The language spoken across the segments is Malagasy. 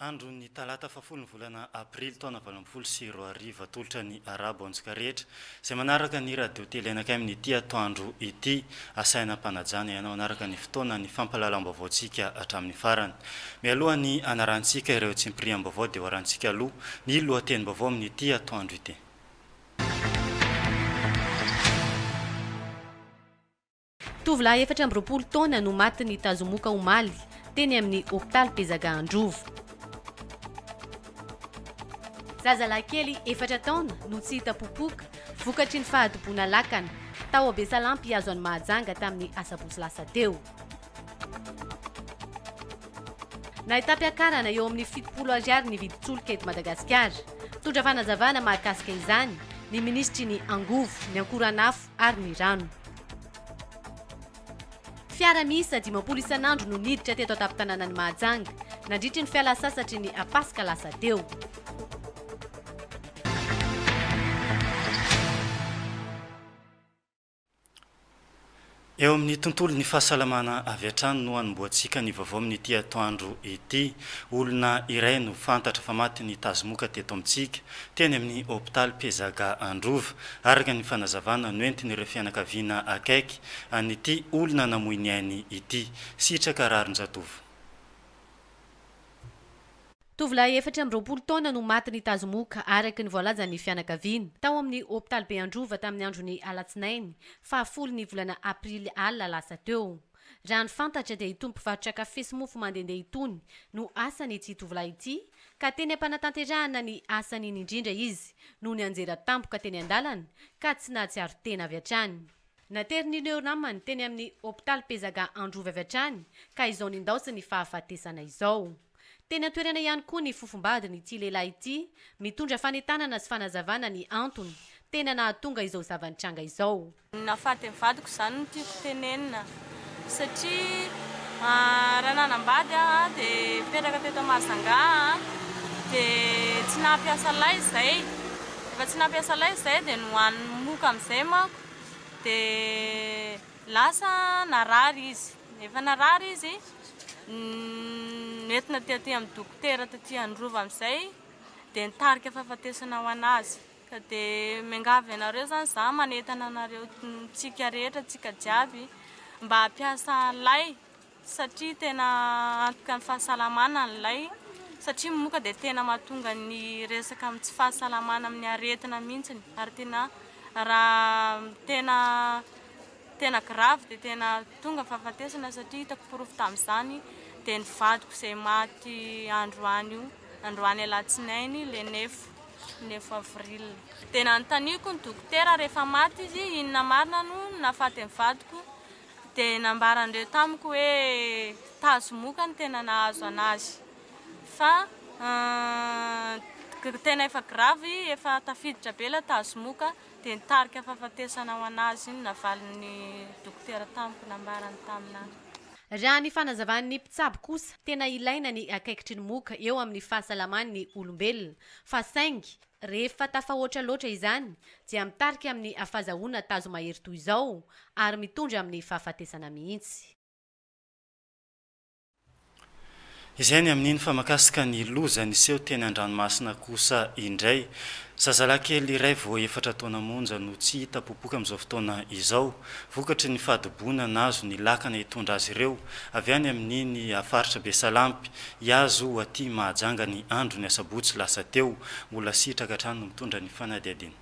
Andron'ny talata fahafolo ny volana aprily taona valo ambin'ny folo sy roa arivo atolotra ny arabo antsika rehetra izay manaraka ny radio tele anakay amin'ity atoandro ity asaina ampanajana ianao hanaraka ny fotoana ny fampalalam-baovaontsika hatramin'ny farany mialoha ny anarantsika ireo tsimpiriam-baovao dia hoarantsika aloha ny lohatenim-baovao amin'ity atoandro ity Tovolahy efatra amby roapolo taona no maty nitazomoka omaly, teny amin'ny hopitaly Pezaga Androvo. Zazalahy kely efatra taona no tsy hita popoka, vokatry ny fahadiboana lakana, tao Abesalampy azo an'i Mahajanga tamin'ny asabotsy lasa teo. Nahitam-piakarana eo amin'ny fitopolo ariary ny vidin-tsolika eto Madagasikara. Mitondra fanazavana mahakasika izany ny minisitry ny Angovo, ny Ankoranafo, ary ny rano. Fiara miisa dimampolo isan'andro no niditra teto an-tampon-tanànan'i Mahajanga, nandritry ny fialan-tsasatry ny Paska lasa teo. Eo amin'ny tontolon'ny fahasalamana avy hatrany no hanombohantsika ny vaovao amin'ity atoandro ity. Olona iray no fantatra fa matin'ny tazomoka teto amintsika. teny amin'ny hopitaly Mpizaga Androva. Araka ny fanazavana noentin'ireo fianakaviana akaiky an'ity olona namoy ny ainy ity, sitraka rarin-jatovo. Tovolahy efatra amby roapolo taona no maty nitazomoka, araka ny voalazan'ny fianakaviana, tao amin'ny hopitalibe Androva tamin'ny andron'ny alatsinainy fahafolo ny volana aprily alina lasa teo. Raha ny fantatra dia itony mpivarotra kafe sy mofo mandehandeha itony no asan' ity tovolahy ity ka teny am-panatanterahana ny asany iny indrindra izy no nianjera tampoka teny an-dalana ka tsy nahatsiaro tena avy hatrany. Naterin'io neo namany teny amin'ny hopitaly Pezaga Androvy avy hatrany ka izao nindaosa ny fahafatesana izao. Teny an-toerana ihany koa ny fofombadin' ity lehilahy ity mitondra fanentanana sy fanazavana ny antony tena nahatonga izao zava-nitranga izao. Ny nahafaty ny vadiko izany no tiako tenenina satria raha nanambady aho dia nipetraka teto Mahajanga aho dia tsy nampiasa lay izay rehefa tsy nampiasa lay izay dia nohaniny moka amin'izay manko dia lasa narary izy rehefa narary izy noentina tety amin'ny dokotera tety Androva amin'izay dia nitarika fahafatesana ho an'azy Ka dia miangavy anareo izany za manentana anareo tsika rehetra tsika jiaby mba hampiasa an'ilay satria tena antoka ny fahasalamana an'ilay satria ny moka dia tena mahatonga ny resaka amin'ny tsy fahasalamana amin'ny aretina mihitsy ary tena raha tena tena grave dia tena tonga ny fahafatesana satria hitako porofo tamin'izany dia ny vadiko izay maty androany io androany alatsinainy le nefo neuf avril. Dia nanontaniako ny dokotera rehefa maty izy inona marina no nahafaty ny vadiko dia nambaran'ireo tamiko hoe tazomoka no tena nahazo an'azy fa uhm tena efa grave efa tafiditra be ilay tazomoka dia nitarika fahafatesana ho an'azy iny navalin'ny dokotera tamiko nambarany tamin'ahy. Raha ny fanazavan'ny mpitsabo kosa, tena ilaina ny akaikitry ny moka eo amin'ny fahasalaman'ny olombelona, fa saingy rehefa tafahoatra loatra izany dia mitarika amin'ny afazahoana tazo mahery toy izao ary mitondra amin'ny fahafatesana mihitsy. Izay ny amin'iny fa makasika ny loza niseho teny an-dranomasina kosa indray. Zazalahy kely iray vao efatra taona monja no tsy hita popoka amin'izao fotoana izao, vokatry ny fahadiboana nahazo ny lakana hitondra azy ireo avy any amin'iny faritra Besalampy iazy ho aty Mahajanga ny andron'ny asabotsy lasa teo. Mbola sitraka hatrany no mitondra ny fanadihadiana.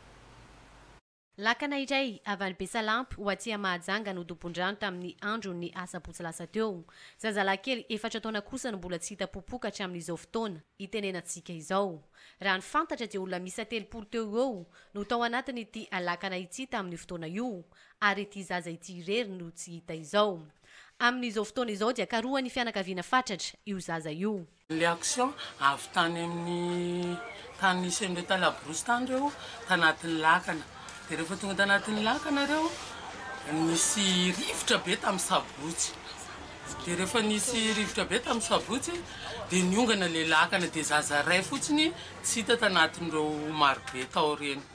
Lakana iray avy any Besalampy ho aty Mahajanga no dobon-drano tamin'ny andron'ny asabotsy lasa teo. Zazalahikely efatra taona kosa no mbola tsy hita popoka hatramin'izao fotoana itenenantsika izao. Raha ny fantatra dia olona miisa telopolo teo ho eo no tao anatin'ity lakana ity tamin'io fotoana io ary ity zaza ity irery no tsy hita izao. Amin'izao fotoana izao dia karohan'ny fianakaviana fatratra io zaza io. Ilay action avy tany amin'ny tany nisy an'ireo tany labrousse tany ireo tanatin'ny lakana dia rehefa tonga tanatin'ny lakana ireo nisy rivotra be tamin'ny sabotsy dia rehefa nisy rivotra be tamin'ny sabotsy dia niongana ilay lakana dia zaza iray fotsiny tsy hita tanatin'ireo marobe tao ireny.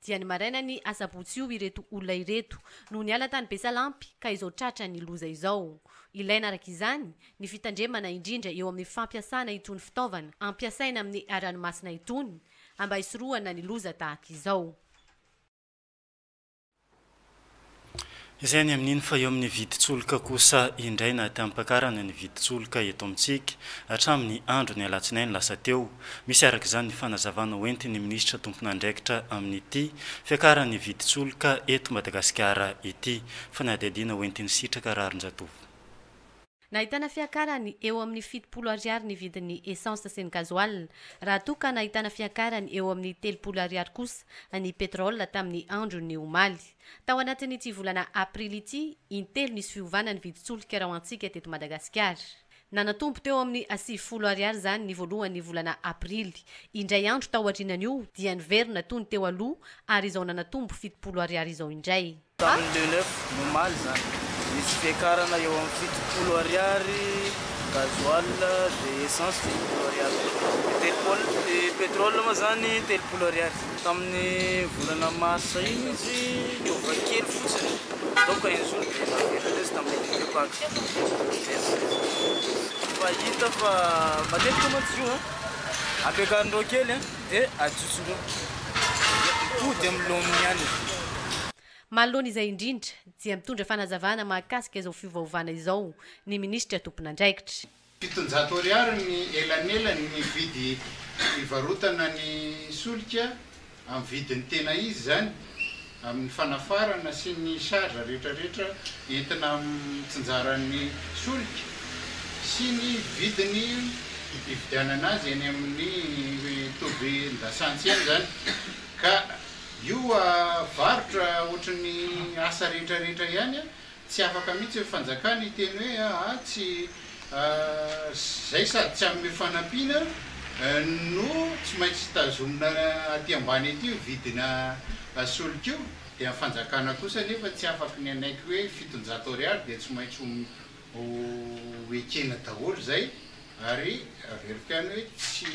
Dia ny marainan'ny asabotsy io ireto olona ireto no niala tany Besalampy ka izao tratran'ny loza izao. Ilaina araka izany ny fitandremana indrindra eo amin'ny fampiasana itony fitaovana ampiasaina amin'ny ranomasina itony mba hisorohana ny loza tahaka izao. Izay any amin'iny fa eo amin'ny vidin-tsoloka kosa indray na tamim-pakarana ny vidin-tsoloka eto amintsika hatramin'ny andron'ny alatsinainy lasa teo. Misy araka izany ny fanazavana hoentin'ny minisitra tompon'andraikitra amin'ity fiakaran'ny vidin-tsoloka eto Madagasikara ity. Fanadihadiana hoentiny Sitraka Raharinjatovo. Nahitana fiakarany eo amin'ny fitopolo Ariary ny vidin'ny essence sy ny gasoil, raha toa ka nahitana fiakarany eo amin'ny telopolo Ariary kosa ny pétrole tamin'ny andron'ny omaly. Tao anatin'ity volana Aprily ity, intelo nisy fiovana ny vidin-tsolika raoantsika teto Madagasikara. Nanatombo teo amin'ny sivifolo Ariary izany ny voalohan'ny volana Aprily. Indray andro taorianan'io dia niverina toy ny teo aloha ary izao nanatombo fitopolo Ariary izao indray. Tamin'ny le 9 omaly izany, nisy fiakarana eo amin'ny fitopolo ariary gasoil dia essence fitopolo ariary koa. Ny telopolo, ny pétrole moa izany telopolo ariary. Tamin'ny volana marsa iny izy niova kely fotsiny, nanomboka injoro dia naverina indray izy tamin'ny dimy eo kaky niverina indray izy. Fa hita fa matetika mantsy izy io an, ampiakarin'ireo kely an. Dia ajotson-dreo. Dia hody amin'ny laoniny ihany izy io. Manoloana izay indrindra, dia mitondra fanazavana mahakasika izao fiovaovana izao ny minisitra tompon'andraikitra. Fitonjato ariary ny elanelany ny vidy ivarotana ny solika, amin'ny vidiny tena izy izany. amin'ny fanafarana sy ny charge rehetrarehetra entina mitsinjaran'ny solika sy ny vidiny ividianana azy eny amin'ny tobin-dasantsy eny izany ka io varotra ohatry ny asa rehetrarehetra ihany Tsy afaka mihitsy ny fanjakana hiteny hoe aa tsy zay sady tsy hanome fanampiana no tsy maintsy tazomina aty ambany aty io vidina solika io dia ny fanjakana kosa nefa tsy afaky ny hanaiky hoe fitonjato ariary dia tsy maintsy ho ekena daholo izay Ary averiko ihany hoe tsy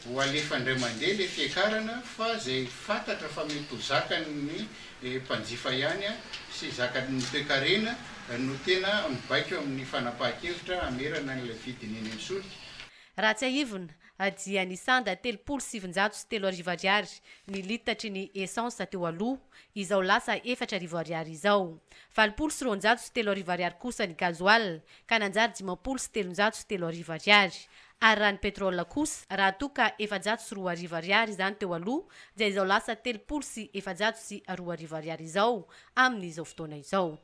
ho alefa indray mandeha ilay fiakarana fa izay fantatra fa mety ho zakan'ny mpanjifa ihany sy zakan'ny toekarena no tena mibaiko amin'ny fanapahan-kevitra hamerana an'ilay vidiny eny amin'ny solika. Raha tsiahivina dia nisanda telopolo sy sivinjato sy telo arivo ariary ny litatry ny essence teo aloha, izao lasa efatra arivo ariary izao. Valopolo sy roanjato sy telo arivo ariary kosa ny gasoil ka nanjary dimampolo sy telonjato sy telo arivo ariary, ary raha ny pétrole kosa, raha toa ka efajato sy roa arivo ariary izany teo aloha, dia izao lasa telopolo sy efajato sy roa arivo ariary izao amin' izao fotoana izao.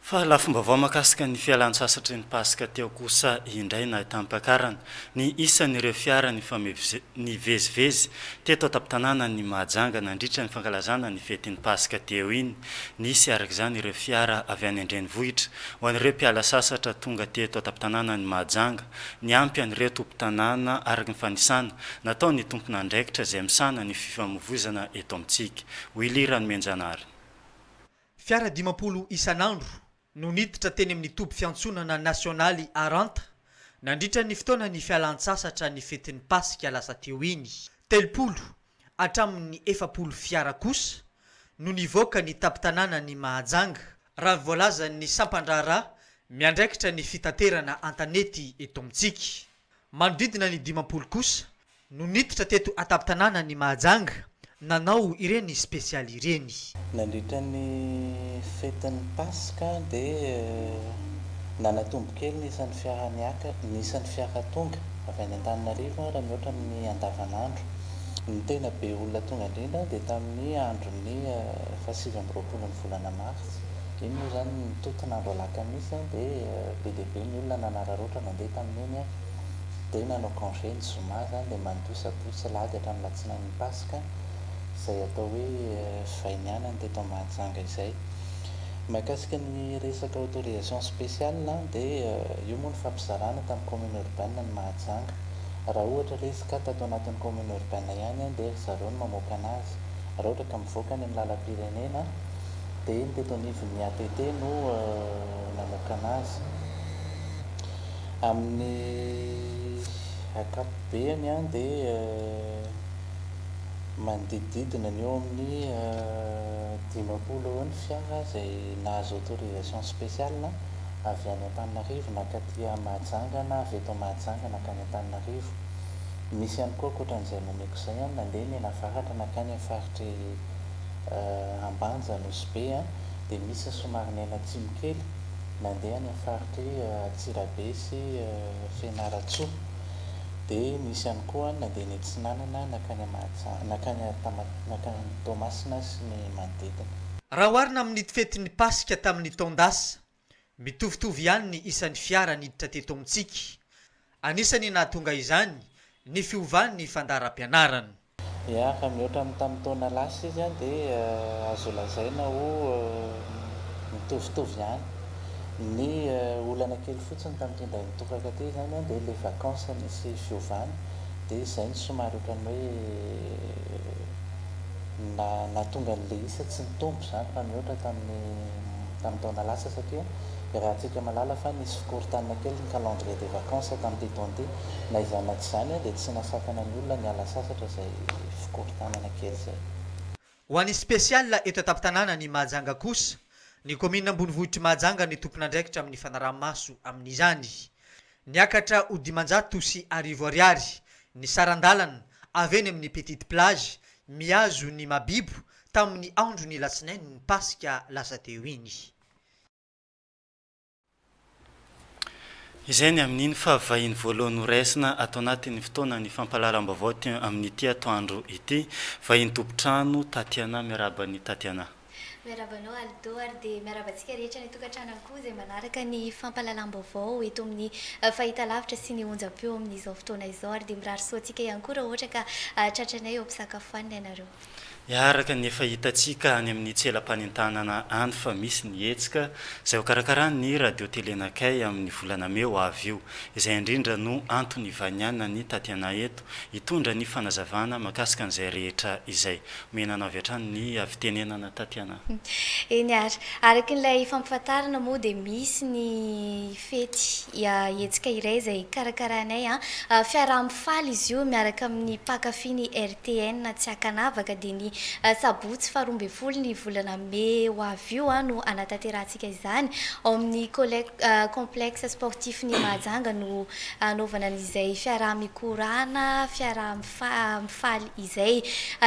Fa lafim-baovao mahakasika ny fialan-tsasatry ny Paska teo kosa indray no ahitam-piakarana ny isan' ireo fiara nifamezivezy teto an-tampon-tanànan' i Mahajanga nandritra ny fankalazana ny fetin'ny Paska teo iny. Nisy araka izany ireo fiara avy any an-drenivohitra ho an'ireo mpiala sasatra tonga teto an-tampon-tanànan'i Mahajanga. Niampy an'ireo tompon-tanàna araka ny fanisana nataon'ny tompon'andraikitra izay misahana ny fifamoivoizana eto amintsika. Willy Ranomenjanahary. Fiara dimampolo isan'andro no niditra teny amin'ny toby fiantsonana nasionaly Aranta nandritra ny fotoanan'ny fialan-tsasatra ny fetin'ny Pasika lasa teo iny. Telopolo hatramin'ny efapolo fiara kosa no nivoaka ny tampon-tanànan'i Mahajanga, raha ny voalazan'ny sampan-draharaha miandraikitra ny fitaterana an-tanety eto amintsika. Manodidina ny dimampolo kosa no niditra teto an-tampon-tanànan' i Mahajanga nanao ireny spesialy ireny. Nandritra ny fetin'ny Paska dia nanatombo kely ny isan'ny fiara niaka, ny isan'ny fiara tonga avy any Antananarivo raha mihoatra amin'ny andavanandro. Ny tena be olona tonga indrindra dia tamin'ny andron'ny fahasivy amby roapolon'ny volana martsa. Iny moa izany nitontona andro alakamisy an, dia be dia be ny olona nanararaotra nandeha tamin'iny an, dia nanao congé ny zoma izany dia mandoa sabotsy sy alahady hatramin'ny alatsinain'ny paska, izay atao hoe vainianana teto Mahajanga izay. Mahakasika ny resaka autorisation spéciale an, dia io moa nifampizarana tamin'ny commune urbaine ny Mahajanga. Raha ohatra ilay izy ka tato anatin'ny commune urbaine ihany an, dia ry zareo no mamoaka anazy. Raha ohatra ka mivoaka any amin'ny lalam-pirenena, dia ny teto anivon'ny ATT no nanokana azy. Amin'ny ankapobeny dia manodidididina ny eo amin'ny dimampolo eo ny fiara izay nahazo autorisation spéciale avy any Antananarivo naka aty Mahajanga na avy eto Mahajanga nankany Antananarivo. Misy ihany koa ankoatra an'izay nomeko izay nandeha menavaratra nankany amin'ny faritr'i. Ambanja, Nosy-Be dia misy somary niaina atsimo kely, nandeha any amin'ny faritr'i Antsirabe sy Fianarantsoa. Dia nisy ihany koa nandeha ny atsinanana nankany Mahajanga, nankany nankany Toamasina sy ny manodidina. Raha oharina amin'ny fetin'ny Paska tamin'ny taon-dasa, Mitovitovy ihany ny isan'ny fiara niditra teto amintsika. Anisan'ny nahatonga izany ny fiovan'ny fandaharam-pianarana. Raha mihoatra amin'ny tamin'ny taona lasa izy dia azo lazaina ho mitovitovy ihany. Ny olana kely fotsiny tamin'ity indray mitoraka ity izany dia ilay vacances nisy fiovana dia izay no somary ohatran'ny hoe. na nahatonga ny Leisa tsy nitombo izany raha mihoatra tamin'ny tamin'ny taona lasa satria iarahantsika mahalala fa nisy fikorontanana kely ny calendrier des vacances tamin'ity taona ity. Na izany na tsy izany dia tsy nasakana ny olona ny hiala sasatra izay fikorontanana kely izay. Ho an'ny spécial eto an-tampon-tanàna ny Mahajanga kosa, ny kaominina ambonivohitr'i Mahajanga no tompon'andraikitra amin'ny fanaraha-maso amin'izany. Niakatra ho dimanjato sy arivo ariary ny saran-dalana avy eny amin'ny Petite Plage mihazo ny Mabibo tamin'ny andron'ny Latsinain'ny Paska lasa teo iny. Izay ny amin'iny fa vahiny voalohany noraisina ato anatin'ny fotoanan'ny fampahalalam-baovao amin'ny ity atoandro ity. Vahiny tompon-trano Tatiana, miarahaba an'i Tatiana. Miarahaba anao Aldo ary dia miarahaba antsika rehetra any an-tokantrano ihany koa izay manaraka ny fampahalalam-baovao eto amin'ny fahitalavitra sy ny onjam-peo amin'izao fotoana izao ary dia mirary soa antsika ihany koa raha ohatra ka tratranay eo am-pisakafoanana ianareo. Araka ny efa hitantsika any amin'ny tselam-panentanana any fa misy ny hetsika izay hokarakaran'ny Radio Telenakay amin'ny volana mey ho avy io. Izay indrindra no antony ivanianany taty anay eto hitondra ny fanazavana mahakasika an'izay rehetra izay. Menana avy hatrany ny havitenenana Tatiana a! Eny ary. Araka ilay fampifantarina moa dia misy ny fety, hetsika iray izay karakarainay an! fiaraha-mifaly izy io miaraka amin'ny mpankafy ny RTN tsy ankanavaka dia ny sabotsy faha roa ambin'ny folo ny volana mey ho avy io no hanatanterahantsika izany ao amin'ny complexe sportif ny Mahajanga no hanaovana an'izay fiaraha-mikorana, fiaraha fa mifaly izay.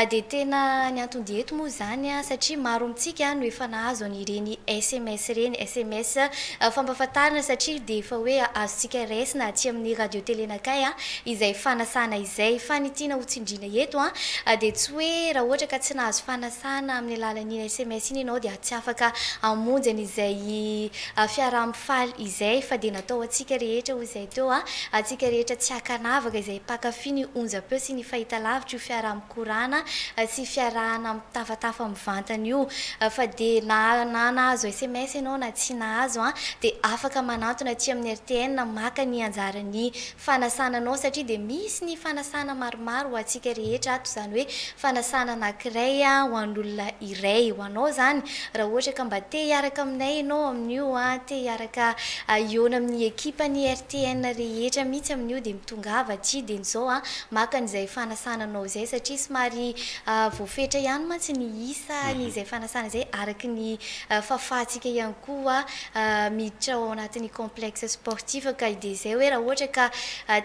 Dia tena ny anton-dia eto moa izany satria maro amintsika no efa nahazo an'ireny sms ireny, sms fampahafantarana satria dia efa hoe azontsika raisina aty amin'ny radio tele nakay izay fanasana izay. Fa ny tiana ho tsindriana eto dia tsy hoe raha ohatra ka tsy nahazo fanasana amin'ny alalan'iny sms iny ianao dia tsy afaka hamonjy an'izay Fiaraha-mifaly izay fa dia natao ho antsika rehetra hoy izay teo a! Antsika rehetra tsy ankanavaka izay mpankafy ny onjam-peo sy ny fahitalavitra io fiaraha-mikorana sy fiarahana mitafatafa mivantana io. Fa dia na na nahazo sms ianao na tsy nahazo a! dia afaka manantona aty amin'ny rtn maka ny anjaran'ny fanasana anao satria dia misy ny fanasana maromaro ho antsika rehetra ato izany hoe fanasana anankiray ho an'olona iray ho anao izany raha ohatra ka mba te hiaraka aminay ianao amin'io te hiaraka hihaona amin'ny ekipa ny RTN rehetra mihitsy amin'io dia mitongava aty dia izao maka an'izay fanasana anao izay satria somary voafetra ihany mantsy ny isa ny izay fanasana izay araka ny fahafahantsika ihany koa miditra ao anatin'ny complexe sportif ka i Dezay hoe raha ohatra ka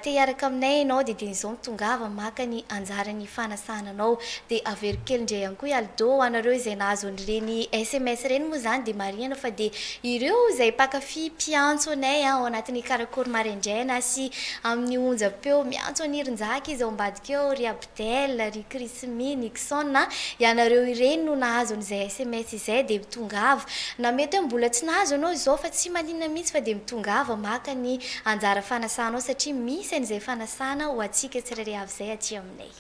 te hiaraka aminay ianao dia dieny izao mitongava maka ny anjaran'ny fanasana anao dia averiko kely indray ihany koa i Aldo ho anareo izay nahazo an'ireny sms ireny moa izany dia marihana fa dia ireo izay mpakafy mpiantso anay ao anatin'ny karakory maraindraina sy amin'ny onjam-peo miantso an'i Irinjaka izy ao ambadika ao ry Abdou Del, ry Krismy, Nixon a! Ianareo ireny no nahazo an'izay sms izay dia mitongava. Na mety hoe mbola tsy nahazo ianao izao fa tsy maninona mihitsy fa dia mitongava maka ny anjara fanasanao satria misy an'izay fanasana ho antsika tsirairay avy izay aty aminay.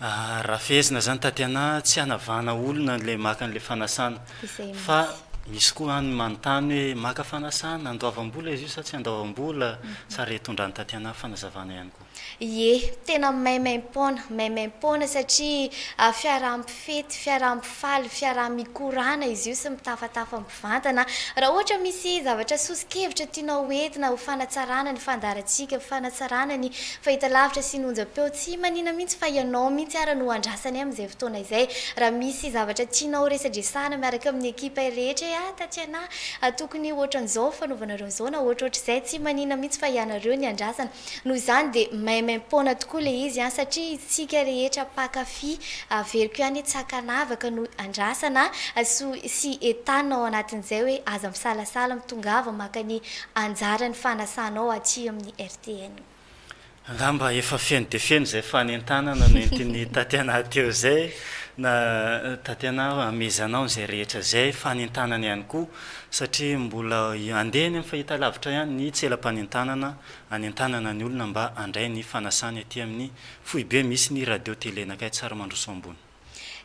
Ary raha fehezina izany Tatiana a, tsy hanavahana olona ilay maka an'ilay fanasana. Izay fa mihitsy. misy koa any manontany hoe maka fanasana, andoavam-bola izy io sa tsy andoavam-bola? sa re? Tondrahan'i Tatiana fanazavana ihany koa. Ie, tena maimaim-poana, maimaim-poana satria fiaraha-mifety, fiaraha-mifaly, fiaraha-mikorana izy io sy mitafatafa mivantana. Raha ohatra misy zavatra soso-kevitra tianao ho entina ho fanatsarana ny fandaharantsika, fanatsarana ny fahitalavitra sy ny onjam-peo, tsy manina mihitsy fa ianao mihitsy ara no andrasanay amin'izay fotoana izay. Raha misy zavatra tianao ho resadresahana miaraka amin'ny ekipa rehetra hoe, ah, Tatiana ah, tokony ohatran'izao ny fanaovanareo an'izao na ohatrohatr'izay, tsy manina mihitsy fa ianareo ny andrasana. Noho izany dia maimaim-poana tokoa ilay izy an! Satria isika rehetra mpankafy averiko ihany hoe tsy ankanavaka no andrasana so sy entanina ao anatin'izay hoe aza misalasala mitongava maka ny anjaran'ny fanasanao aty amin'ny RTN. Angamba efa feno dia feno izay fanentanana nentin'i Tatiana teo izay na Tatiana a! Amezanao an'izay rehetra izay fanentanana ihany koa satria mbola andeha any amin'ny fahitalavitra ihany ny tselam-panentanana hanentanana ny olona mba handray ny fanasany aty amin'ny foibe misy ny radio tele nakay Tsarimandroso ambony.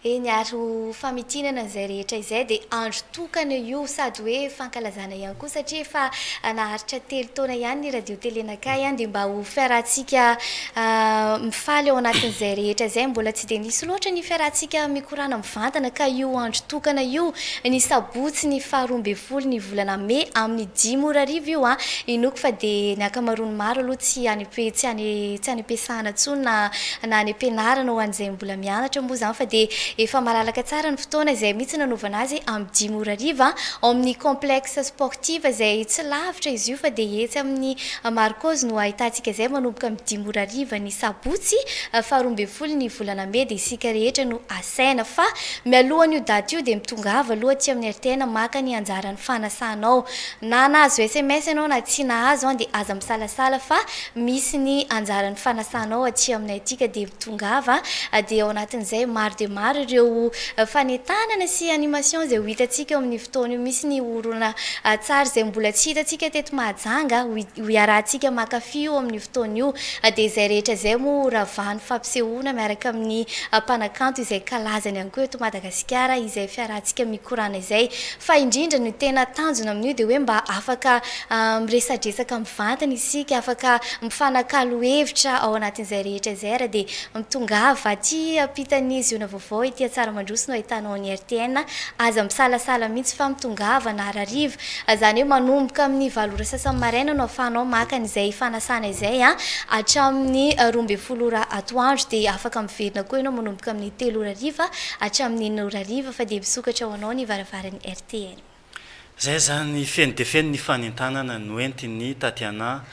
Eny ary ho famitinana izay rehetra izay dia andro tokana io sady hoe fankalazana ihany koa satria efa naharitra telo taona ihany ny radio tele nakay dia mba ho fiarahantsika mifaly ao anatin'izay rehetra izay mbola tsy dia nisy loatra ny fiarahantsika mikorana Mivantana ka io andro tokana io, ny sabotsy ny faha roa ambin'ny folo ny volana mey amin'ny dimy ora hariva io an! Inoako fa dia ny ankamaroan'ny maro aloha tsy any am-pe, tsy any, tsy any am-piasana intsony na, na any am-pianarana ho an'izay mbola mianatra moa izany fa dia efa malalaka tsara ny fotoana, izay mihitsy nanaovana azy amin'ny dimy ora hariva ao amin'ny complexe sportif izay tsy lavitra izy io fa dia etsy amin'ny Marcos no ahitantsika izay manomboka amin'ny dimy ora hariva ny Sabotsy faharoa ambin'ny folo ny volana mey dia isika rehetra no asaina fa mialohan'io daty io dia mitongava aloha aty amin'ny RTN maka ny anjaran'ny fanasanao. Na nahazo sms ianao na tsy nahazo an dia aza misalasala fa misy ny anjaran'ny fanasanao aty aminay aty ka dia mitongava dia ao anatin'izay maro dia maro ireo fanentanana sy animations izay ho hitantsika eo amin'ny fotoana io misy ny horonan-tsary izay mbola tsy hitantsika teto Mahajanga ho iarahantsika mankafy io amin'ny fotoana io dia izay rehetra izay moa ho ravahan'ny fampisehoana miaraka amin'ny mpanakanto izay kalazany ihany koa eto Madagasikara izay fiarahantsika mikorana izay. Fa indrindra ny tena tanjona amin'io dia hoe mba afaka miresadresaka mivantana isika, afaka mifanakalo hevitra ao anatin'izay rehetra izay ary dia mitongava aty ampitan'ny Ziona Vaovao ety Antsaramandroso no ahitanao an'i RTN. Aza misalasala mihitsy fa mitongava na hariva Izany hoe manomboka amin'ny valo ora sasany maraina no ahafahanao maka an'izay fanasana izay an, hatramin'ny roa ambin'ny folo ora atoandro dia afaka miverina koa ianao manomboka amin'ny telo ora hariva hatramin'ny enina ora hariva fa dia misokatra ho anao ny varavaran'ny RTN. Izay izany, feno dia feno ny fanentanana noentin'i Tatiana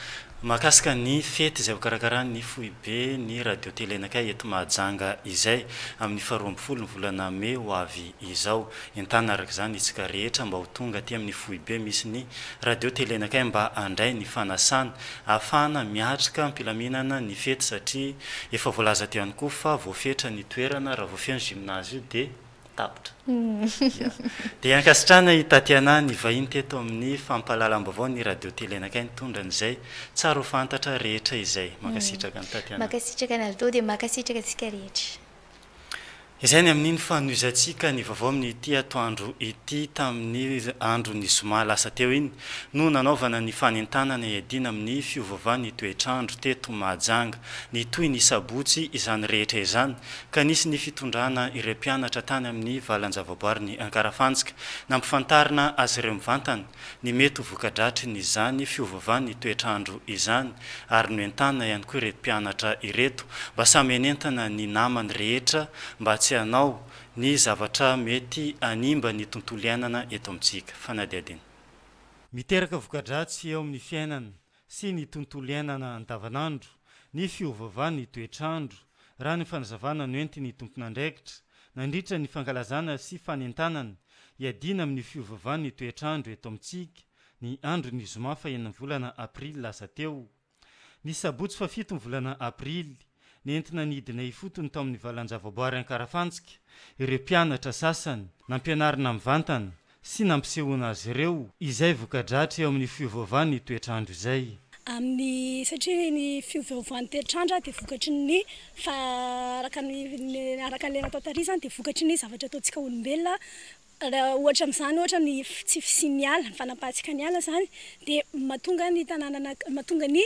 mahakasika ny fety izay hokarakaran'ny foibe ny radio telenakay eto Mahajanga izay amin'ny faharoa ambin'ny folo ny volana mey ho avy izao. Entana araka izany isika rehetra mba ho tonga aty amin'ny foibe misy ny radio telenakay mba handray ny fanasana ahafahana miatrika am-pilaminana ny fety satria efa voalaza teo ihany koa fa voafetra ny toerana raha vao feno gymnase io dia tapitra. Ya. Dia ankasitrahana i Tatiana nivahiny teto amin'ny fampahalalam-baovao ny radio telenakay nitondra an'izay tsara ho fantatra rehetra izay. Mankasitraka an'i Tatiana. Mankasitraka anareo dia mankasitraka antsika rehetra. Izay ny amin'iny fanohizantsika ny vaovao amin'ity atoandro ity tamin'ny andron'ny zoma lasa teo iny no nanaovana ny fanentanana hiadiana amin'ny fiovaovan'ny toetr'andro teto Mahajanga. Nitohy ny sabotsy izany rehetra izany ka nisy ny fitondrana ireo mpianatra tany amin'ny valan-javaboarin'i Ankarafantsika nampifantarina azy ireo mivantana ny mety ho voka-dratry ny izany fiovovan'ny toetr'andro izany ary noentanina ihany koa ireto mpianatra ireto mba samy hanentana ny namany rehetra mba tsy hanao ny zavatra mety hanimba ny tontolo iainana eto amintsika. Fanadihadiana. Miteraka voka-dratsy eo amin'ny fiainana sy ny tontolo iainana andavanandro, ny fiovaovan'ny toetr'andro, raha ny fanazavana noentin'ny tompon'andraikitra nandritra ny fankalazana sy fanentanana hiadiana amin'ny fiovaovan'ny toetr'andro eto amintsika, ny andron'ny zoma fahen'ny volana aprily lasa teo. Ny sabotsy fahafito ny volana aprily, Nentina nidina ifotony tao amin'ny valan-javaboary Ankarafantsika ireo mpianatra sasany, nampianarina mivantana sy nampisehoana azy ireo izay voka-dratra eo amin'ny fiovaovan'ny toetr'andro izay. Amin'ny, satria ny fiovaovan'ny toetr'andro dia vokatry ny, fa araka ny, araka ilay natao tary izany dia vokatry ny zavatra ataontsika olombelona, Raha ohatra amin'izany ohatra ny tsy fisian'ny ala, ny fanapahantsika ny ala izany dia mahatonga ny tanàna na mahatonga ny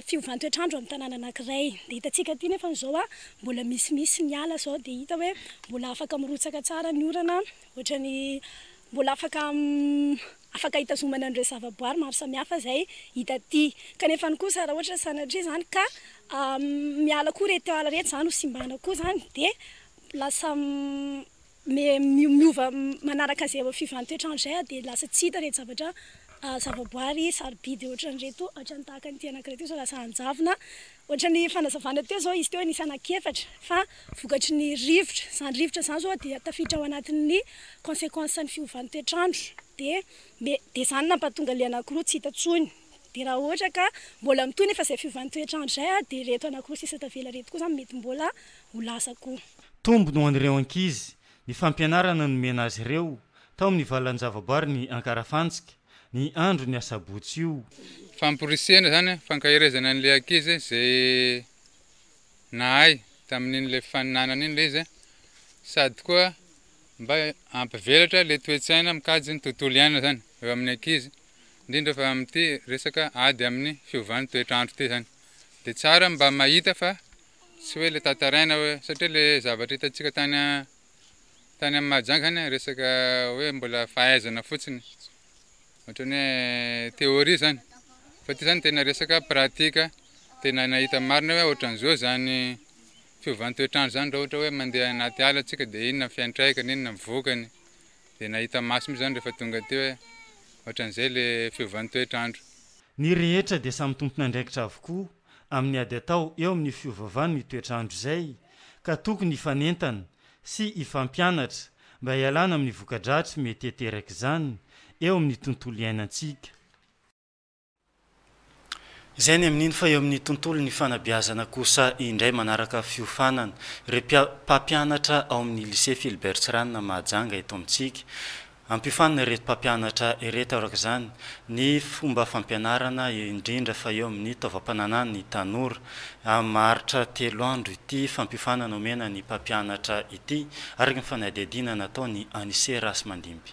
fiovan-toetr'andro amin'ny tanàna anankiray. Dia hitantsika aty nefa izao mbola misimisy ny ala izao dia hita hoe mbola afaka mirotsaka tsara ny orana ohatra ny mbola afaka afaka hitazomana an'ireo zavaboary maro samihafa izay hita aty. Kanefany kosa raha ohatra sanatria izany ka miala koa ireto ala ireto izany ho simbana koa izany dia lasa Miova manaraka izay fiovàntoetr'andro izay ary dia lasa tsy hita ireto zavatra zavaboary sarobidy ohatran'ireto ohatran'ny tahaka an'ity anankiray ity izao lasa hanjavona. Ohatran'ny fanazavana teo izao izy teo nisy anankiefatra fa vokatry ny rivotra. Izany rivotra izany izao dia tafiditra ao anatin'ny consequences-n'ny fiovàntoetr'andro dia dia izany nampahatonga ilay anankiroa tsy hita intsony. Dia raha ohatra ka mbola mitohy nefa izay fiovan'ny toetr'andro izay ary dia ireto anankiroa sisa tavela ireto koa izany mety mbola ho lasa koa. Tombony ho an'ireo ankizy ny fampianarana nomena azy ireo tao amin'ny valan-javaboary ny Ankarafantsika ny andron'ny asabotsy io. Famporisihana izany an, fankaherezana an'ilay ankizy izay nahay tamin'iny ilay faninanana iny ilay izy an, sady koa mba hampivelatra ilay toe-tsaina mikajy ny tontolo iainana izany eo amin'ny ankizy. indrindra fa amin'ity resaka ady amin'ny fiovan'ny toetr'andro ity izany dia tsara ny mba mahita fa tsy hoe ilay tantaraina hoe satria ilay zavatra hitantsika tany tany amin'ny Mahajanga izany a, resaka hoe mbola fahaizana fotsiny, ohatran'ny hoe théorie izany, fa ity izany tena resaka pratika, tena nahita marina hoe ohatran'izao izany fiovan'ny toetr'andro izany raha ohatra hoe mandeha anaty ala isika dia inona ny fiantraikany, inona ny vokany. Dia nahita maso mihitsy izany rehefa tonga teo hoe ohatran'izay ilay fiovan'ny toetr'andro. Ny rehetra dia samy tompon'andraikitra avokoa amin'ny ady atao eo amin'io fiovaovan'ny toetr'andro izay ka tokony hifanentana sy hifampianatra mba hialana amin'ny voka-dratsy mety hateraky izany eo amin'ny tontolo iainantsika. Izay ny amin'iny fa eo amin'ny tontolon'ny fanabeazana kosa indray manaraka fiofanana. Repia mpampianatra ao amin'ny Lycée Philbert Tsiranana Mahajanga eto amintsika. Ampiofanina ireto mpampianatra ireto araka izany ny fomba fampianarana indrindra fa eo amin'ny taovam-pananan'ny tanora. Maharitra telo andro ity fampiofanana omena ny mpampianatra ity araka ny fanadihadiana nataon'i Anise Rasimandimby.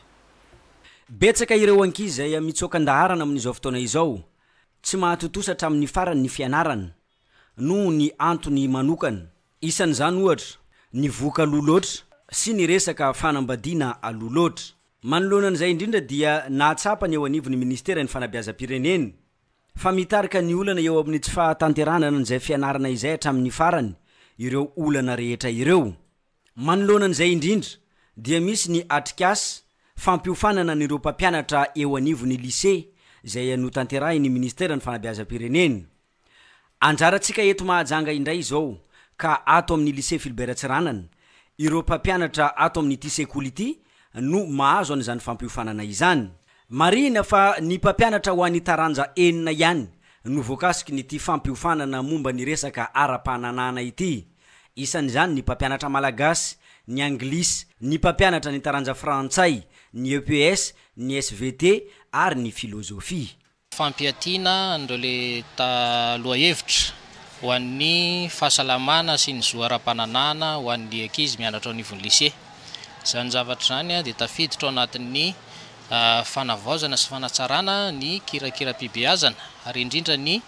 Betsaka ireo ankizy izay mitsoaka an-daharana amin'izao fotoana izao, tsy mahatontosa hatramin'ny farany ny fianarany noho ny antony manokana. Isan'izany ohatra ny vohoka aloha loatra sy ny resaka fanambadiana aloha loatra. Manoloana an'izay indrindra dia nahatsapa ny eo anivon'ny minisiteran'ny fanabeazam-pirenena fa mitarika ny olana eo amin'ny tsy fahatanterahana an'izay fianarana izay hatramin'ny farany ireo olana rehetra ireo. Manoloana an'izay indrindra dia misy ny atrikasa fampiofanana an'ireo mpampianatra eo anivon'ny Lycée izay notanterahin'ny Ministeran'ny Fanabeazam-pirenena. Anjarantsika eto Mahajanga indray izao ka ato amin'ny Lycée Philbert Tsiranana, ireo mpampianatra ato amin'ity sekoly ity no mahazo an'izany fampiofanana izany. Marihina fa ny mpampianatra ho an'ny taranja enina ihany no voakasikin'ity fampiofanana momba ny resaka ara-pananahana ity. isan'izany ny mpampianatra malagasy, ny anglisy, ny mpampianatra ny taranja frantsay, ny EPS, ny svt ary ny filozofia. Fampiatiana an'ireo le ta lohahevitra ho an'ny fahasalamana sy ny zo ara-pananahana ho an'ny ankizy mianatra ao anivon'ny lycée. Izany zavatra izany dia tafiditra ao anatin'ny. fanavaozana sy fanatsarana ny kirakiram-pibeazana ary indrindra ny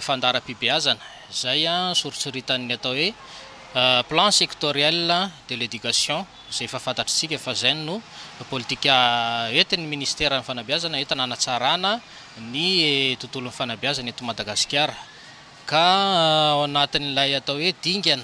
fandaharam-pibeazana izay soritsoritany ny atao hoe Plan sectoriel de l'éducation izay efa fantatr'isika fa izay no politika entin'ny Ministeran'ny Fanabeazana entina hanatsarana ny tontolon'ny fanabeazana eto Madagasikara ka ao anatin'ilay atao hoe dingana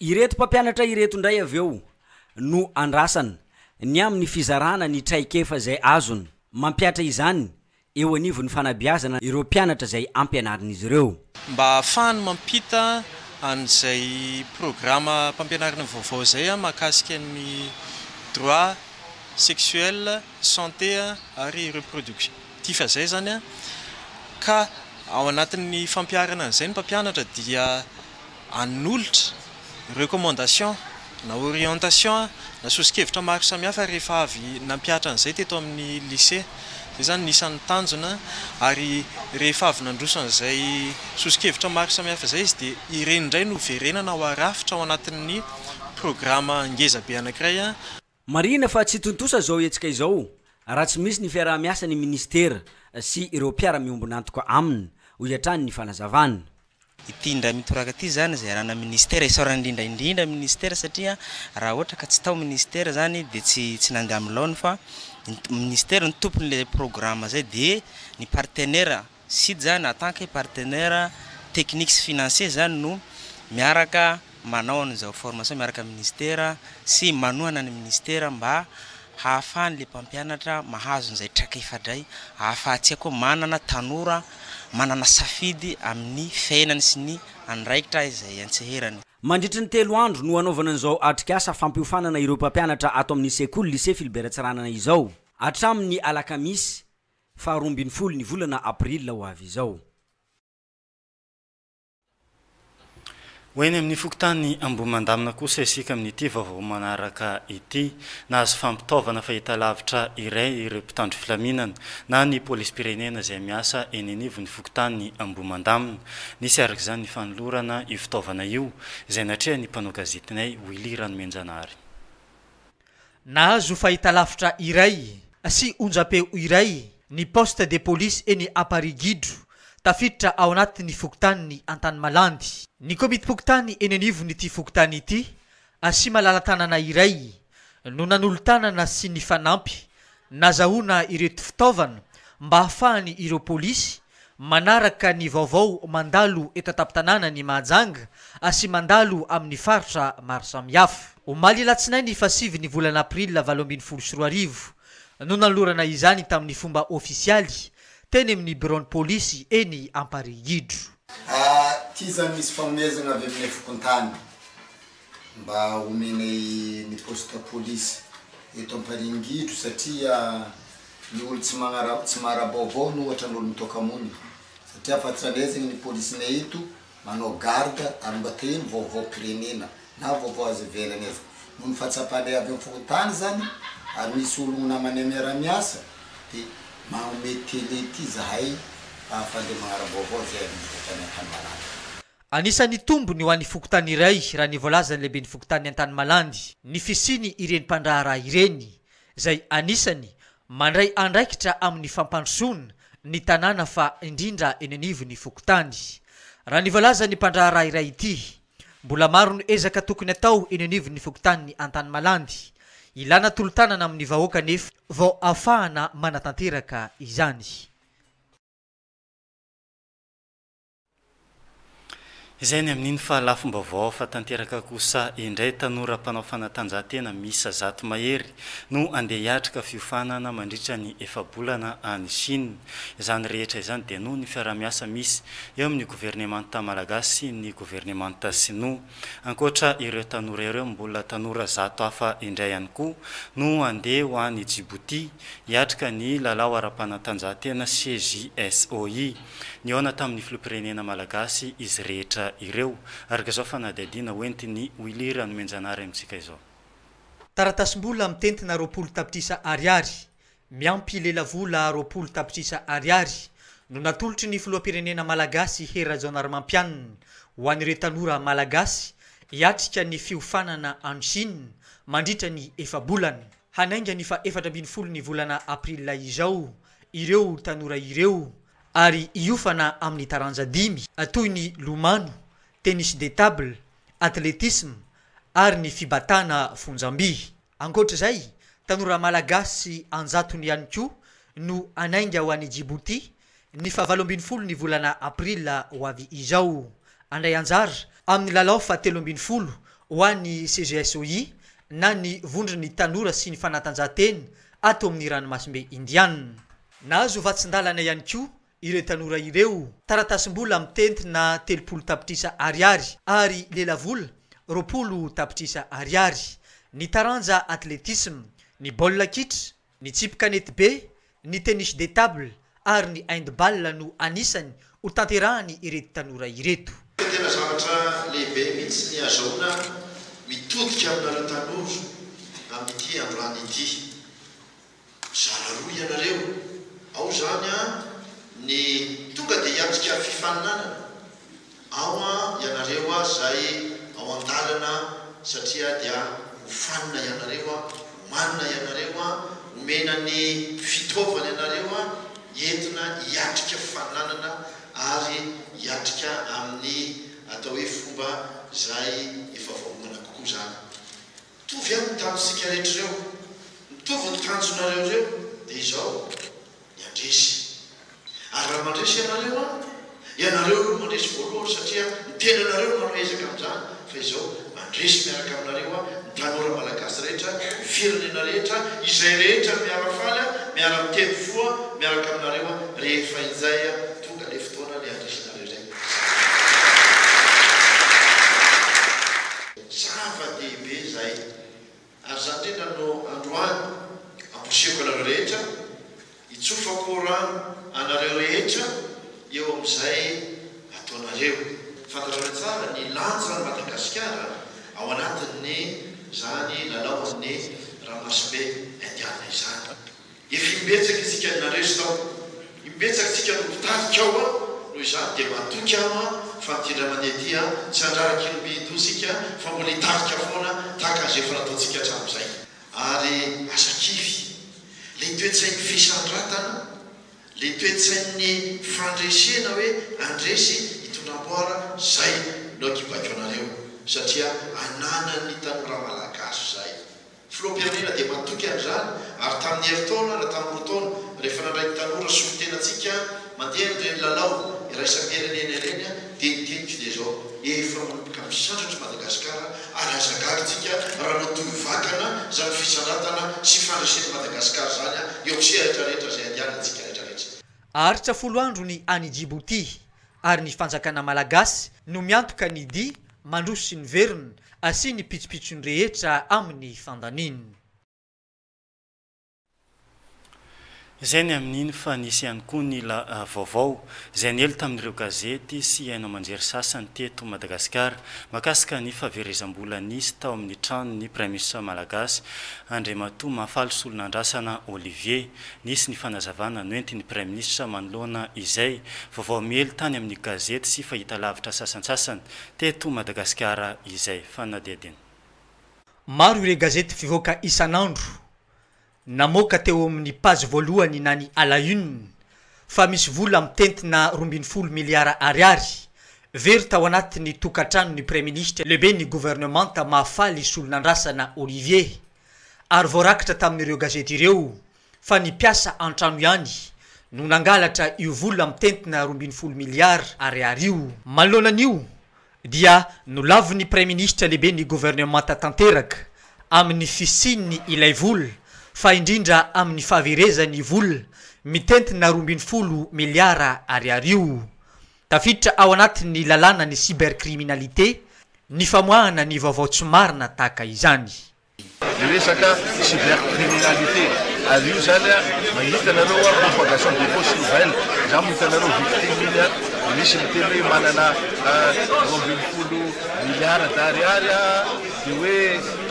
Ireto mpampianatra ireto indray avy eo no andrasana ny amin'ny fizarana ny traikefa izay azony mampihatra izany eo anivon'ny fanabeazana ireo mpianatra izay ampianarin'izy ireo. Mba ahafahany mampita an'izay programam-pampianarana vaovao izay mahakasika ny droit sexuel, santé ary reproductif izay izany ka ao anatin'ny fampiharana an'izay ny mpampianatra dia Hanolotra recommandations na orientations na soso-kevitra maro samihafa rehefa avy nampihatra an'izay teto amin'ny Lycée. Izay izany no isan'ny tanjona ary rehefa avy nandroso an'izay soso-kevitra maro samihafa izay izy dia ireny indray no hoverenana ho arafitra ao anatin'ny programa ngezabe anankiray, Marihina fa tsy tontosa izao hetsika izao raha tsy misy ny fiaraha-miasa ny minisitera sy ireo mpiara-miombon'antoka aminy, hoy hatrany ny fanazavana. Ity indray mitoraka ity izany izay iarahana minisitera, isaorana indrindra indrindra minisitera satria raha ohatra ka tsy tao minisitera izany dia tsy tsy nandeha amin'ny laoniny fa ny minisitera no tompon'ilay programa izay dia ny partenera Sid zany en tant que partenaire technique sy financier zany no miaraka manao an'izao formation miaraka amin'ny ministera sy manohana ny ministera mba hahafahan'ilay mpampianatra mahazo an'izay trakefa-dray ahafahantsika koa manana tanora manana safidy amin'ny fiainany sy ny andraikitra izay antseherany. Mandritry ny telo andro no hanaovana an'izao atrikasa fampiofanana ireo mpampianatra ato amin'ny sekoly Lycée Philbert Tsiranana izao. Hatramin'ny alakamisy Faharoa ambin'ny folo ny volana aprila ho avy izao. Ho eny amin'ny fokontany Ambohimandamina kosa isika amin'ity vaovao manaraka ity. Nahazo fampitaovana fahitalavitra iray ireo mpitandro filaminana na ny polisim-pirenena izay miasa eny anivon'ny fokontany Ambohimandamina. Nisy araka izany ny fanolorana io fitaovana io izay natrehan'ny mpanao gazetinay Willy Ranomenjanahary. Nahazo fahitalavitra iray sy onjampeo iray ny poste de police eny Amparihigiodro, tafiditra ao anatin'ny fokontanin'i Antanimalandy, ny komitim-pokontany eny anivon'ity fokontany ity sy malala-tanana iray no nanolo-tanana sy nifanampy Nazahoana ireto fitaovana mba hahafahan' ireo polisy manaraka ny vaovao mandalo eto an-tampon-tanànan' i Mahajanga sy mandalo amin' ny faritra maro samihafa. Omaly Alatsinainy fahasivin' ny volana Aprila valo ambin'ny folo sy roa arivo no nanolorana izany tamin' ny fomba ôfisialy teny amin' ny biraon'ny polisy eny Amparihigidro. Atizan' ny fifanomezana avy amin' ny fokontany mba omenay ny poste police eto Amparingidro satria ny olo tsy magnara tsy maharabaovao no ohatran olo mitoka mony satria fantranay zegny ny policenay eto manao garde ary mba te hino vaovao pirenena na vaovao aza ivelany aza noho ny fahatsapanay avy am fokontany zany ary misy ologno namanay miara miasa de magnome tele ty zahay ahafahanle magnarabaovao ze avy am fokontany akany manatona. Anisan'ny tombony ho an'ny fokontany iray raha ny voalazan'ny lehiben'ny fokontanin'i Antanimalandy ny fisiany ireny mpandraharaha ireny izay anisany mandray andraikitra amin'ny fampandrosoana ny tanàna fa indrindra eny anivon'ny fokontany. Raha ny voalazan'ny mpandraharaha iray ity, mbola maro ny ezaka tokony atao eny anivon'ny fokontanin'i Antanimalandy. Ilana tolo-tanana amin'ny vahoaka anefa vao afahana manatanteraka izany. Izay ny amin'iny fa lafom-baovao hafa tanteraka kosa indray, tanora mpanao fanatanjahantena miisa zato mahery no andeha hiatrika fiofanana mandritra ny efa-bolana any Chine. Izany rehetra izany dia noho ny fiaraha-miasa misy eo amin'ny governemanta malagasy sy ny governemanta sinoa. Ankoatra ireo tanora ireo, mbola tanora zato hafa indray ihany koa no andeha ho any Djibouti hiatrika ny lalao ara-panatanjahantena CJSOI. Nihaona tamin'ny filoham-pirenena malagasy izy rehetra ireo, araka izao fanadihadiana hoentin'i Willy Ranomenjanahary amintsika izao. Taratasim-bola mitentina roapolo tapitrisa ariary, miampy lelavola roapolo tapitrisa ariary, no natolotry ny filoham-pirenena malagasy Hery Rajaonarimampianina ho an'ireo tanora malagasy hiatrika ny fiofanana any Chine mandritra ny efa-bolana hanainga ny faha-efatra ambin'ny folo ny volana aprila izao ireo tanora ireo ary hiofana amin'ny taranja dimy toy ny lomano, tennis de table, atletisme ary ny fibatana fonjam-by. Ankoatra izay, tanora malagasy an-jatony ihany koa no hanainga ho any Djibouti ny faha valo ambin'ny folo ny volana aprila ho avy izao, handray anjara amin'ny lalao faha telo ambin'ny folo ho an'ny CGSOI na ny vondron'ny tanora sy ny fanatanjahantena ato amin'ny ranomasimbe Indianina. Nahazo vatsin-dalana ihany koa ireo tanora ireo, taratasim-bola mitentina telopolo tapitrisa ariary ary lelavola roapolo tapitrisa ariary, ny taranja atletisma, ny baolina kitra, ny tsipy kanetibe, ny tennis de table ary ny handball no anisany ho tanterahany ireto tanora ireto. Ka tena zavatra lehibe mihitsy ny azahoana mitodika aminareo tanora amin'ity androany ity. Mizara roa ianareo, ao izany an ny tonga dia hiatrika fifaninanana, Aoa ianareo a zay ao andalana satria dia hofanina ianareo a, homanina ianareo a, homena ny fitaovana ianareo a, entina hiatrika fananana ary hiatrika amin'ny atao hoe fomba zay efa vaomana kokoa zany. Mitovy a ny tanjontsika rehetra ireo, mitovy ny tanjonareo ireo dia izao. ny handresy. Ary raha mandresy ianareo an, ianareo aloha mandresy voalohany satria ny tenanareo no manao ezaka amin'izany, fa izao mandresy miaraka aminareo an, ny tanora malagasy rehetra, ny firenena rehetra, izay rehetra no miara-faly an, miara-miteny fo an, miaraka aminareo an, rehefa injay an, tonga ilay fotoana ilay handresenareo izay. Zava-dehibe izay. Ary izany indrindra no androany amposihiko anareo rehetra, hitsofako rano anareo rehetra eo amin'izay ataonareo. Fantatrareo tsara ny lanjan'i Madagasikara ao anatin'izany lalaon'ny ramasobe indiana izany. Efa imbetsaka isika nareso tao, imbetsaka isika no mpitarika ao an, noho izany dia matoky aho an, fa ny tindray mandeha ety an, tsy handrara kilomehidoha isika fa mbola hitarika foana tahaka an'izay efa nataontsika hatramin'izay. Ary aza kivy. Ilay toe-tsain'ny fisandratana, ilay toe-tsain'ny fandresena hoe handresy hitondra amboara, izay no hakibaiko anareo, satria ananan'ny tanora malagasy izay. Filoham-pirenena dia matoky an'izany ary tamin'ny herintaona na tamin'ny roa taona rehefa nandray ny tanora solontenantsika mandeha an'ireny lalao iraisam-pirenena ireny dia ny teniko dia izao, efa manomboka misandratra i Madagasikara ary aza gaga tsika raha matoy vakana izany fisandratana sy fandresen'i Madagasikara izany eo amin'ny sehatra rehetra izay andehanantsika rehetra rehetra. Aharitra folo andro ny any Djibouti ary ny fanjakana malagasy no miantoka ny dia Mandroso ny veriny, asia ny pitsopitsony rehetra amin'ny fandaniny. Izay ny amin'iny fa nisy ihany koa ny la vaovao izay niely tamin'ireo gazety sy haino aman-jery sasany teto Madagasikara mahakasika ny fahaverezam-bola nisy tao amin'ny tranon'ny Praiminisitra malagasy Andriamatoa Mahafaly Solonandrasana Olivier. Nisy ny fanazavana noentin'ny Praiminisitra manoloana izay vaovao miely tany amin'ny gazety sy fahitalavitra sasantsasany teto Madagasikara izay. Fanadihadiana. Maro ireo gazety mpivoaka isan'andro namoaka teo amin'ny page voalohany na ny à la une fa misy vola mitentina roa ambin'ny folo miliara ariary very tao anatin'ny tokantranon'ny Praiminisitra lehiben'ny governemanta Mahafaly Solonandrasana Olivier ary voarakitra tamin'ireo gazety ireo fa ny mpiasa an-trano ihany no nangalatra io vola mitentina roa ambin'ny folo miliara ariary io. Manoloana an'io dia nolavin'ny praiminisitra lehiben'ny governemanta tanteraka amin'ny fisian'ny ilay vola fa indrindra amin'ny fahaverezan'ny vola mitentina roa ambin'ny folo miliara ariary io Tafiditra ao anatin'ny lalàna ny cybercriminalité ny famoahana ny vaovao tsy marina tahaka izany. Ny resaka cybercriminalité, ary io izany mahita anareo hoe propagation de fausses nouvelles, izaho mahita anareo victime iny an, misy miteny hoe manana roa ambin'ny folo milliards d'ariary aho dia hoe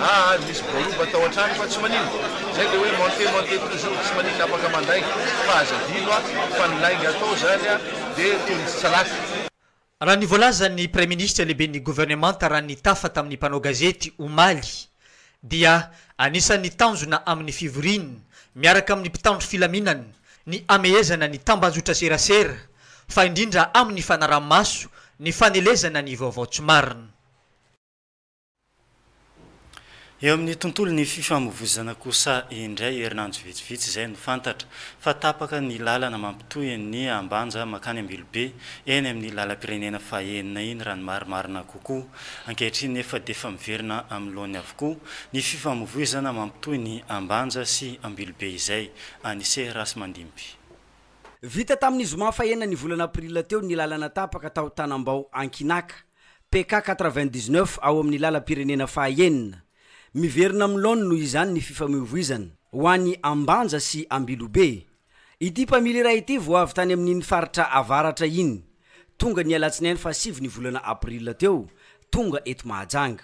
aa nisy voaroba tao an-trano fa tsy maninona, izay dia hoe monter monter toujours tsy maninona afaka mandainga, fa aza adino an, fa ny lainga atao izany an, dia toy ny tsy salafy. Raha ny voalazan'ny Praiminisitra lehiben'ny governemanta raha ny tafa tamin'ny mpanao gazety omaly dia anisan'ny tanjona amin'ny fivoriany miaraka amin'ny mpitandro filaminana ny hamehezana ny tambanjotraserasera fa indrindra amin'ny fanaraha-maso ny fanelezana ny vaovao tsy marina. Eo amin'ny tontolon'ny fifamoivozana kosa indray, herinandro vitsivitsy izay no fantatra, fa tapaka ny lalana mampitohy ny Ambanja mankany Ambilobe, eny amin'ny lalam-pirenena fahenina iny raha ny marimarina kokoa. Ankehitriny nefa dia efa miverina amin'ny laoniny avokoa ny fifamoivoizana mampitohy ny Ambanja sy Ambilobe izay. Anise Rasimandimby. Vita tamin'ny zoma fahenina ny volana aprila teo ny lalana tapaka tao Tanambao Ankinaka. PK quatre-vingt-dix-neuf ao amin'ny lalam-pirenena fahaenina. Miverina amin'ny laoniny noho izany ny fifamoivoizana ho any Ambanja sy Ambilobe. Ity mpamily iray ity vao avy tany amin'iny faritra avaratra iny, tonga ny alatsinainy fahasivy ny volana april teo, tonga eto Mahajanga.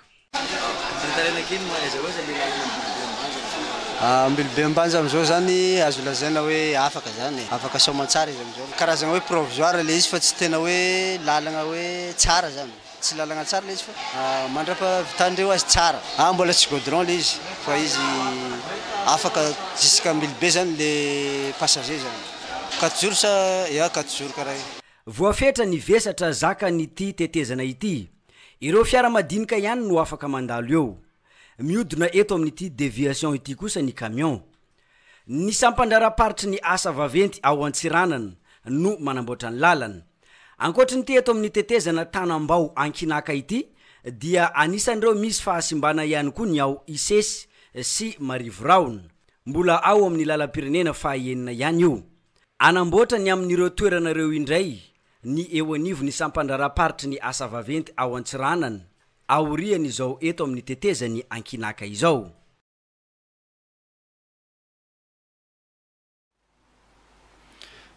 Ambilobe Ambanja amin'izao izany azo lazaina hoe afaka izany e, afaka soamantsara izy amin'izao. Karazana hoe provisoire ilay izy fa tsy tena hoe lalana hoe tsara izany, tsy lalana tsara ilay izy fa mandrapahavitan'ireo azy tsara. Ah mbola tsy goudron ilay izy fa izy afaka jusqu'à Ambilobe izany ilay passager izany. Quatre jours sa? Ya quatre jours karaha io. Voafetra ny vesatra zakan'ity tetezana ity. Ireo fiara madinika ihany no afaka mandalo eo. Mihodina eto amin'ity déviation ity kosa ny camion. Ny sampan-draharaham-paritry ny asa vaventy ao Antsiranana no manamboatra ny lalana. Ankoatry ny eto amin'ny tetezana Tanambao Ankinaka ity dia anisan'ireo misy fahasimbana ihany koa ny ao Isesy sy Marivo Rahona. Mbola ao amin'ny lalam-pirenena faha enina ihany io. Anamboatra ny amin'ireo toerana ireo indray ny eo anivon'ny sampandraharaham-paritry ny asa vaventy ao Antsiranana, aorian'izao eto amin'ny tetezan'i Ankinaka izao.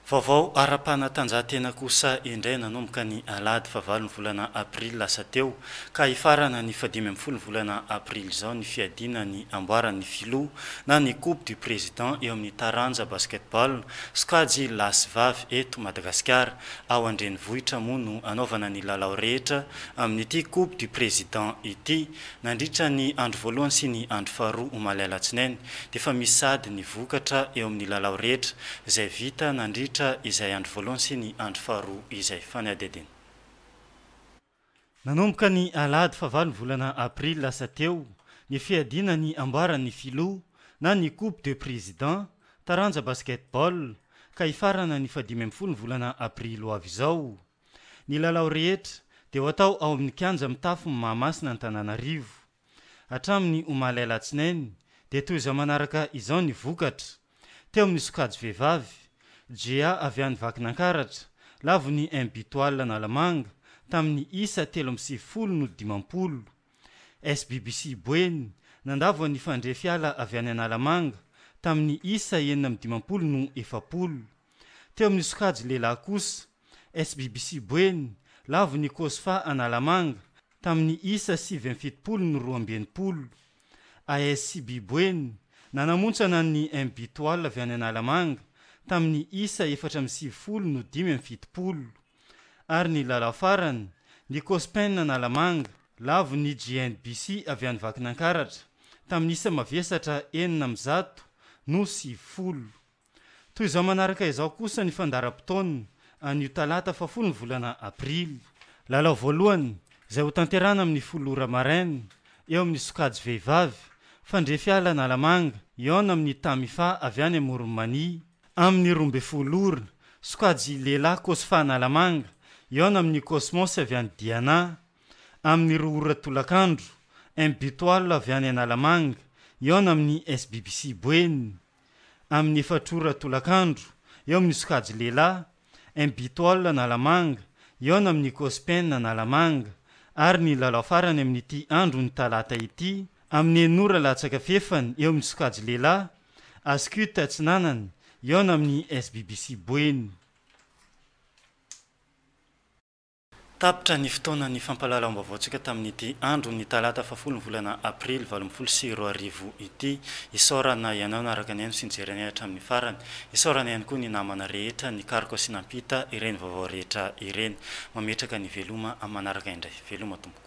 Vaovao ara-panatanjahantena kosa indray nanomboka ny alahady fahavalon'ny volana aprily lasa teo ka hifarana ny fahadimy ambin'ny folo ny volana aprily izao ny fiadiana ny amboaran'ny filoha na ny coupe du président eo amin'ny taranja basketball sokajy lahy sy vavy eto Madagasikara, ao an-drenivohitra moa no anaovana ny lalao rehetra amin'ity coupe du président ity nandritra ny andro voalohany sy ny andro faharoa omaly alatsinainy dia efa misy sahady ny vokatra eo amin'ny lalao rehetra izay vita nandritra izay andro voalohany sy ny andro faharoa izay fanadihadiana. Nanomboka ny alahady fahavalo ny volana aprily lasa teo ny fiadiana ny amboaran'ny filoha na ny coupe de président taranja basket-ball ka hifarana ny fahadimy ambin'ny folo ny volana aprily ho avy izao. Ny lalao rehetra dia ho atao ao amin'ny kianja mitafo ny Mahamasina Antananarivo. Hatramin'ny omaly alatsinainy dia toy izao manaraka izao ny vokatra, teo amin'ny sokajy vehivavy, GA avy any Vakinankaratra, lavon'ny Mbtoile Analamanga, tamin'ny isa telo amby sivifolo no dimampolo. SBBC Boeny, nandavo an'i Fandrefy Ala avy any Analamanga, tamin'ny isa enina amby dimampolo no efapolo. Teo amin'ny sokajy lehilahy kosa, SBBC Boeny, lavon'ny Cosfa Analamanga, Tamin'ny isa sivy amby fitopolo no roa amby enimpolo, ASCB Boeny nanamontsana ny MBtoile avy any Analamanga tamin'ny isa efatra amby sivifolo no dimy amby fitopolo, ary ny lalao farany, ny Cospen Analamanga lavo ny GNBC avy any Vakinankaratra tamin'ny isa mavesatra enina amby zato no sivifolo. Toy izao manaraka izao kosa ny fandaharam-potoana anio talata fahafolo ny volana aprily. Lalao voalohany izay ho tanterahana amin'ny folo ora maraina eo amin'ny sokajy vehivavy, fandrefy ala Analamanga hihaona amin'ny Tamifa avy any Amoron'i Mania. Amin'ny roa ambin'ny folo ora, sokajy lehilahy Cosfa Analamanga hihaona amin'ny Cosmos avy any Diana. Amin'ny roa ora tolakandro, Imbutoile avy any Analamanga hihaona amin'ny SBBC Boeny. amin'ny efatra ora tolakandro, eo amin'ny sokajy lehilahy, Mbitol Analamanga, eo ny amin'ny Cospen Analamanga, ary ny lalao farany amin'ity andron'ny talata ity, amin'ny enina ora latsaka fefany, eo amin'ny sokajy lehilahy, Ascut Atsinanana, eo ny amin'ny SBBC Boeny. Tapitra ny fotoanan'ny fampahalalam-baovaontsika tamin'ity andron'ny talata fahafolo ny volana aprily valo ambin'ny folo sy roa arivo ity. Isaorana ianao naraka nihaino sy nijery anay hatramin'ny farany. Isaorana ihany koa ny namana rehetra nikaroka sy nampita ireny vaovao rehetra ireny. Mametraka ny veloma amin'ny manaraka indray. Veloma tompoko.